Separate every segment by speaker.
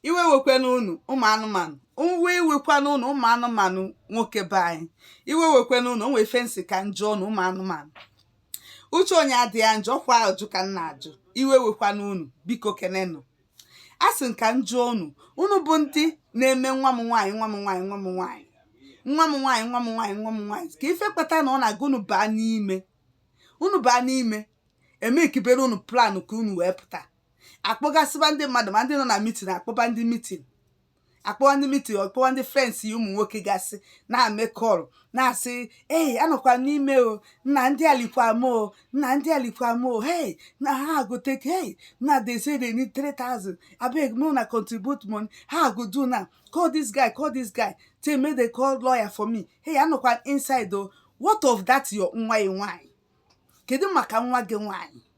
Speaker 1: iwe ewekwana unu ụmụ anụmanụ iwe ewekwana unu ụmụ anụmanụ nwoke be anyị iwe ewekwana unu o nwe ife m sị ka m jụọ unu ụmụ anụmanụ uche onye adịa njọ ọ kwa ajụjụ ka m na-ajụ iwe ewekwana unu biko kenenụ a sị m ka m jụọ unu unu bụ ndị na-eme nwa m nwaanyị nwa m nwaanyị nwa m nwaanyị nwa m nwaanyị nwa m nwaanyị nwa m nwaanyị kee ife kpata na ọ na-aga unu baa n'ime unu baa n'ime emekibere unu plan ka unu wee pụta akpọgasịba ndị mmadụ ma ndị nọ na meeting akpọba ndị meeting akpọwa ndị meeting akpọwa ndị friends ya ụmụ nwoke gasị na-eme call na-asị ee anọkwa m n'ime o nna ndị alikwa m o nna ndị alikwa m o hey nna ha agote hey nna they say they need 3000 abeg make una contribute money how I go do now call this guy call this guy make they call lawyer for me hey anọkwa inside o what of that your nwa ị nwaanyị kedu maka nwa gị nwaanyị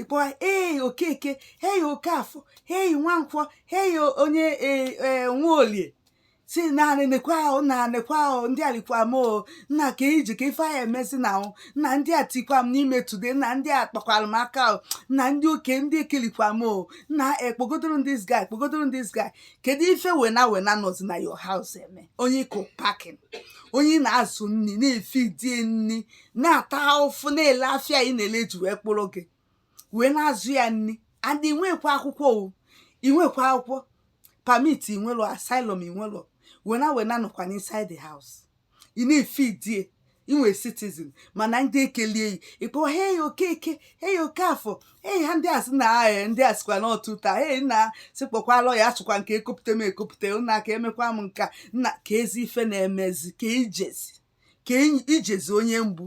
Speaker 1: ị kpọwa ee okeke hei okafọ hei nwankwọ hei onye e, e, nwaolie si naanị nekwa ahụ na nekwa ahụ ndị a likwa m o nna kee ije kee ife anyị emezi now o nna ndị a tikwa m n'ime today nna ndị a kpakwara m aka o nna ndị oke ndị ekelikwa m o nna kpọgodoro m this guy kpọgodoro m this guy kedu ife wena wena nọzi na your house eme onye ịkụ pakin onye ị na-azụ nri na-efidie nri na-ata ahụfụ na-ele afịa ị na-ele ji wee kpụrụ gị wee na-azụ ya nri and i nwekwa akwụkwọ o i nwekwa akwụkwọ permit i nwelu asylum i nwelu wena wena nọkwa inside the house ị na-efidie i nwe citizen mana ndị ekelie yi ị kpọ hey okeke hey okafọ hey ha ndị asị na ee ndị a sịkwa na ọtụta hey nna sị kpọkwa lawyer achọkwa m ka a kpọpụta m akpọpụta nna ka emekwa m nka nna kezi ife na-emezi ka ijezi ka ijezi onye mgbu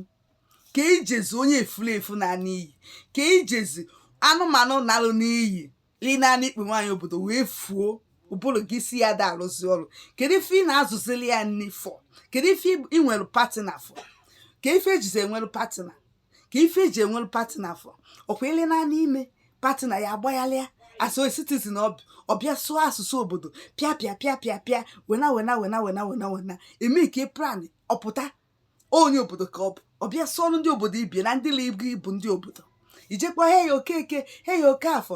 Speaker 1: ka ijezi onye efulefu na n'iyi ka ijezi anụmanụ nalụ n'iyi ịnanị ikpe nwaanyị obodo wee fuo ụbụrụ gị isi ya ada arụzi ọrụ kedu ife ị na-azụzili ya nri for kedu ife ị nwere partner for kee ife ejizi enwere partner kee ife eji enwere partner for ọ kwa ile naanị ime partner ya agbaghalịa as a citizen ọ bịa sụọ asụsụ obodo pịa pịa pịa pịa pịa wena wena wena wena wena wena emekie plan ọ pụta onye obodo ka ọ bụ ọ bịa sụọrọ ndị obodo ibe ya na ndị ibu ibu ndị obodo i je kpọ hey okeke hey okafọ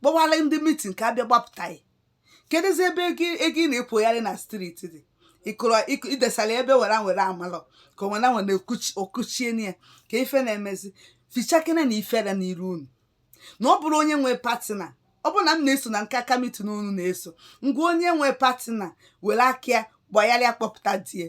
Speaker 1: kpọwara ndị meeting ka a bịa gbapụta ya kedụzi ebe ego ị na-ekpogharị na street dị ịkụrụ idesara ebe wena wena amalọ ka wena wena okuchie ya kee ife na-emezi fichakenenụ ifere n'iru unu na ọ bụrụ onye nwee partner ọ bụrụ na m na-eso na nke aka meeting unu na-eso ngwa onye nwee partner were aka ya gbagharịa kpọpụta di ya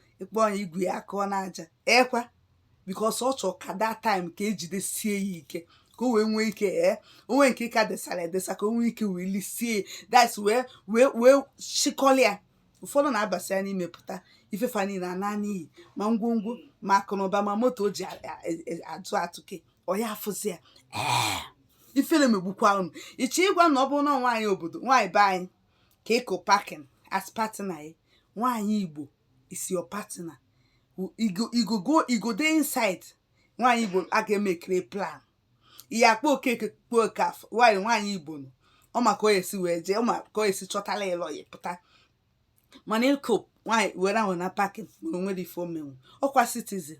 Speaker 1: ịkpọ onye igwe ya akụọ n'aja ekwa because ọ chọrọ ka that time ka ejidesie ya ike ka o wee nwee ike ee onwe nke ka desara edesa ka o nwee ike wee lisie that's wee chịkọlịa ụfọdụ na-abasi ya n'ime pụta ife fa niile anaa n'iyi ma ngwongwo ma akụnụba ma moto o ji atụ atụke ọ ya afụzi ya ee ifere megbukwa unu ịchọ ịgwa na ọ bụrụ na nwaanyị obodo nwaanyị be anyị ka ịkụ pakin as partner ya nwaanyị igbo is your partner e go dey inside nwaanyị igbo a ga-emekere plan ihe akpa okeke kpuo okafọ nwaanyị igbo nọ ọ ma ka o esi wee jee ọ ma ka o esi chọtala ịlọ ya pụta mana ịkụ nwaanyị were ahụ na pakin ma o nwere ife o menwu ọkwa citizen